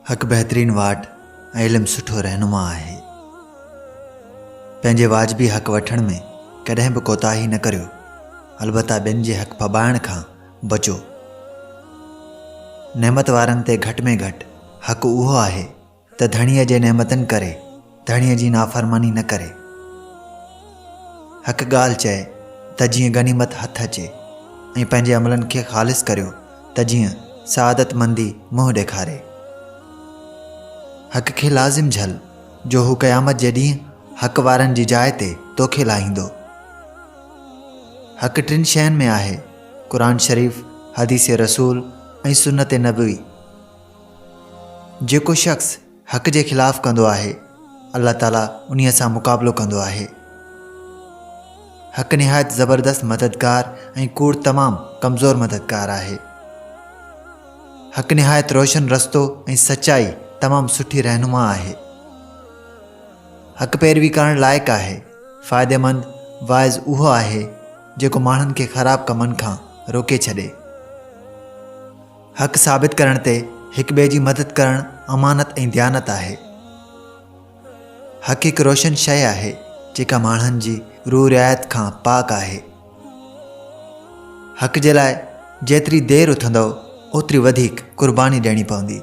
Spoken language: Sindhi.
ھڪ بهترين واٽ ۽ علم سٺو رهنما آهي. پنهنجي واجبي حق وٺڻ ۾ ڪڏهن به ڪوتاهي نه ڪريو، البته ٻين جي حق ڦٻائڻ کان بچو. نعمت وارن تي گهٽ ۾ گهٽ حق اهو آهي ته ڌڻيء جي نعمتن ڪري ڌڻيء جي نافرماني نه ڪري. هڪ ڳالهه چئي ته جيئن غنيمت هٿ اچي ۽ پنهنجي عملن کي خالص ڪريو ته جيئن سعادت مندي منهن ڏيکاري. حق کي لازم جهل جو هو قيامت جي ڏينهن حق وارن جي جاء تي توکي لاهيندو. حق ٽن شين ۾ آهي، قرآن شريف، حديث رسول ۽ سنت نبوي. جيڪو شخص حق جي خلاف ڪندو آهي، الله تعالي انهيء سان مقابلو ڪندو آهي. حق نهايت زبردست مددگار ۽ ڪوڙ تمام ڪمزور مددگار آهي. حق نهايت روشن رستو ۽ سچائي تمام سٺي رهنما آهي. حق پيروي ڪرڻ لائق آهي. فائديمند واعظ اهو آهي، جيڪو ماڻهن کي خراب ڪمن کان روڪي ڇڏي. حق ثابت ڪرڻ تي هڪ ٻئي جي مدد ڪرڻ امانت ۽ ديانت آهي. حق هڪ روشن شيء آهي جيڪا ماڻهن جي روح رعايت کان پاڪ آهي. حق جي لاء جيتري دير اٿندؤ اوتري وڌيڪ قرباني ڏيڻي پوندي.